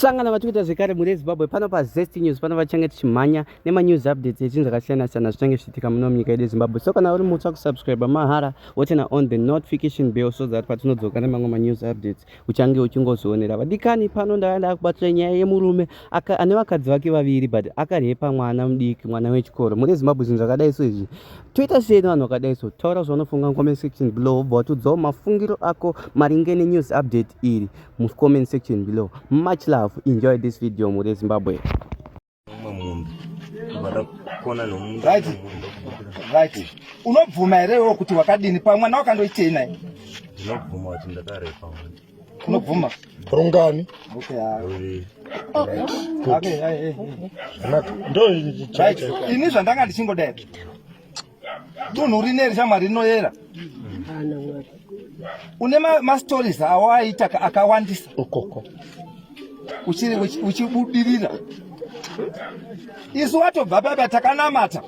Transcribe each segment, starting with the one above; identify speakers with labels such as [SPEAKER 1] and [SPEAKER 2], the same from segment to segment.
[SPEAKER 1] sangana vatiri kuita zvekare mhuri yezimbabwe pano pazest news pano vachange tichimhanya nemanews updates echinhu zvakasiyana siyana zvichange zvichiitika muno munyika yedu yezimbabwe so kana uri mutsva kusubscribe mahara wotena on the notification bell so that patinodzoka nemamwe manews updates uchange uchingozvionera vadikani pano ndava ndakubatira nyaya yemurume ane vakadzi vake vaviri but akarepa mwana mudiki mwana wechikoro mhuri yezimbabwe zvinhu zvakadai so izvi toita sei nevanhu vakadai so taura zvaunofunga comment section below wobva watudzawo mafungiro ako maringe nenews update iri mucomment section below much love enjoy this video mhuri yezimbabwe
[SPEAKER 2] unobvuma here iwo kuti wakadini pamwe mwana wakandoitei naye ndinobvuma kuti
[SPEAKER 3] ndakarepa unobvuma
[SPEAKER 2] rungani ini zvandanga ndichingodai dunhu rineri shamwari rinoyera une mastories ma awo aita akawandisa ukoko uchibudirira isu watobva baba takanamata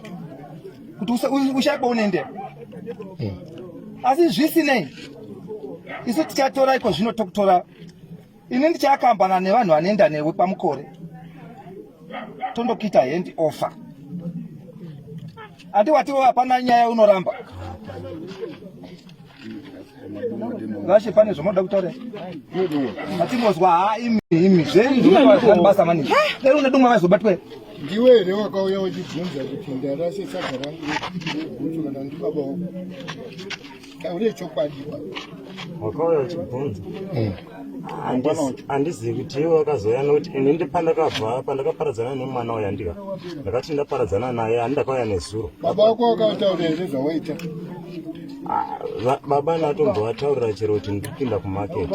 [SPEAKER 2] kuti ushaiba unendera eh. asi zvisinei isu tichatora iko zvino tokutora ini ndichakambana nevanhu vanoenda newe pamukore tondokuita hand offer ati watiwo hapana nyaya unoramba vashe pane zvomoda kutaura atingozwa ha imi imi zveizvibasa maningi dai une dumwa vaizobatwe ndiwe here
[SPEAKER 4] wakauya wachibvunza kuti ndarase saga rangu rekuti kana ndibaba wako taure chokwadi wakauya
[SPEAKER 3] uchibvunza eh. handizivi kuti iwe wakazouya nokuti ini ndi pandakabva pandakaparadzana nemwana uya ndika ndakati ndaparadzana naye handakauya nezuro baba wako
[SPEAKER 4] wakataura here zvawaita ah,
[SPEAKER 3] baba natombovataurira chero kuti ndikupinda kumaketi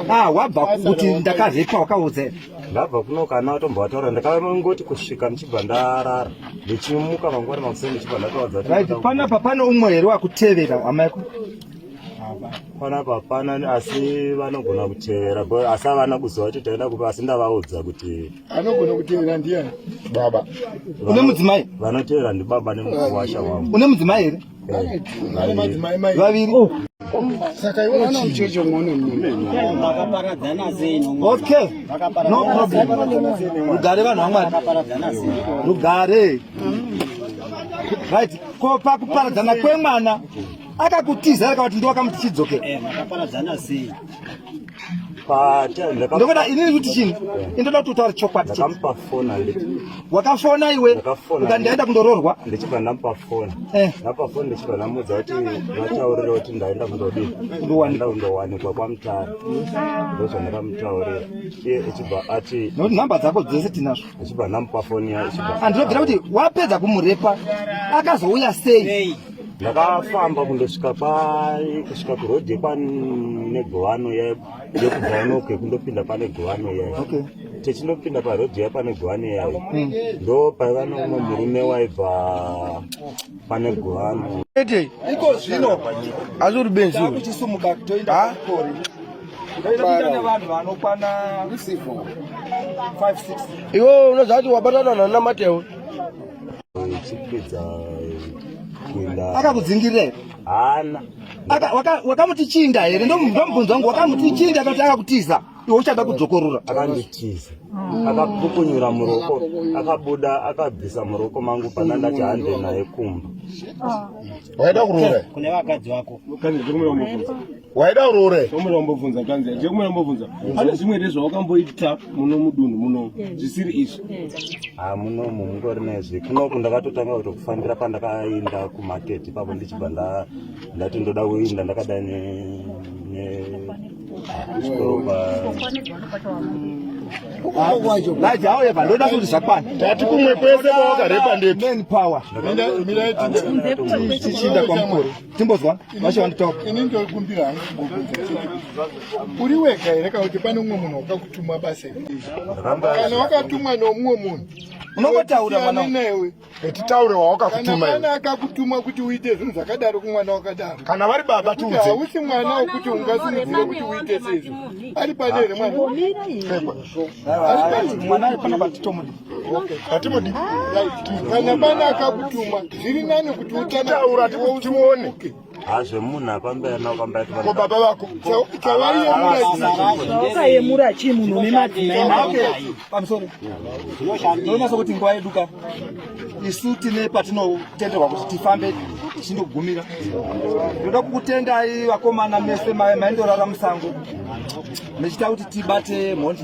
[SPEAKER 3] ah, ah,
[SPEAKER 2] wabva kuti ndakarepa wakaudza ndabva kuno kana
[SPEAKER 3] atombovataura ndakangoti kusvika ndichibva ndarara ndichimuka mangwana makuseni ndichibva ndatovaza panapa pane
[SPEAKER 2] umwe here wakutevera amaiko
[SPEAKER 3] panapa hapana asi vanogona kutevera asi havana kuziva kuti taenda kupa asi ndavaudza kuti anogona kutevera
[SPEAKER 4] ndiyani baba une mudzimai
[SPEAKER 2] vanotevera ndibaba
[SPEAKER 3] nemukuwasha wangu une mudzimai here
[SPEAKER 2] vaviri oh. saka iwe
[SPEAKER 4] unochicho mone makaparadzana sei
[SPEAKER 5] okay
[SPEAKER 2] no problem rugare vanhu vamwari rugare right ko pakuparadzana kwemwana akakutiza akavati ndiwakamuti chidzokera eh, ndokuda inini kuti chini indoda kuti utaure chokwadi
[SPEAKER 3] wakafona iwe
[SPEAKER 2] ukandiaenda kundoroorwa ndichibva ndamupa
[SPEAKER 3] foni eh. ndapa foni ndichibva ndamudza kuti vataurira kuti ndaenda kundodii ndowaenda kundowanikwa kwamutare ndozvandakamutaurira iye ichibva ati nokuti nhamba dzako dzese
[SPEAKER 2] tinazvo ichibva ndamupa foni
[SPEAKER 3] ya ichibva andinobvira kuti wapedza
[SPEAKER 2] kumurepa akazouya sei ndakafamba
[SPEAKER 3] kundosvika pai kusvika kuroad yekwane govano yekubva inoke kundopinda pane govano yayo okay. techindopinda
[SPEAKER 2] paroad
[SPEAKER 3] ya pane govano yayo hmm. ndo paiva nomwe murume waibva pane govano ete iko
[SPEAKER 2] zvino asi uri benzi
[SPEAKER 4] kuchisumuka toenda
[SPEAKER 2] kori iwe
[SPEAKER 4] unoziva kuti wabatana nana matewo
[SPEAKER 3] akakudzingirei
[SPEAKER 2] hana wakamuti chinda here ndomubvunza wangu wakamuti chinda akati akakutiza iwe uchada kudzokorora akanditiza
[SPEAKER 3] akapukunyura muroko akabuda akabvisa muroko mangu pana ndati hande naye kumba
[SPEAKER 4] waida kurora kune vakadzi vako
[SPEAKER 6] waida uroore
[SPEAKER 4] chomura umbobvunza kanzi
[SPEAKER 6] chekumura umbobvunza pane zvimwe here zvawakamboita muno mudunhu muno zvisiri izvi ha ah, muno
[SPEAKER 3] mu mungori nezvi kunoku ndakatotanga kutokufambira pandakainda kumarket ipapo ndichibva ndati ndoda kuinda ndakadai ne laiti auye
[SPEAKER 2] pandoda kuti zvakwana tati kumwe kwese
[SPEAKER 4] kwawakarepa ndemanpower
[SPEAKER 2] miraitichiinda kwamukuru timbozwa vashe vanditaura ini ndokumbira
[SPEAKER 4] hangu uri wega here kana kuti pane umwe munhu wakakutumwa basa kana wakatumwa neumwe munhu unongotaura
[SPEAKER 2] mwana newe
[SPEAKER 4] titaure wawakakutuma kana akakutuma kuti uite zvinhu zvakadaro kumwana wakadaro kana vari baba tiudze hausi mwana wekuti ungasimudzire kuti uite sezvo ari pane here mwana ari pane mwana ari
[SPEAKER 2] pana vatitomuda hatimudi
[SPEAKER 4] kana bana akakutuma zviri nani kuti utataura tione
[SPEAKER 3] hazvemunhu apambeanakambaiko baba vako
[SPEAKER 4] chawaiyemurakayemura
[SPEAKER 2] chii munhu une madzinaipamsoro zvinonasa kuti nguva yeduka isu tine patinotenderwa kuti tifambe tichindogumira ndoda kukutendai vakomana mese maendorara musango mechita kuti tibate mhondi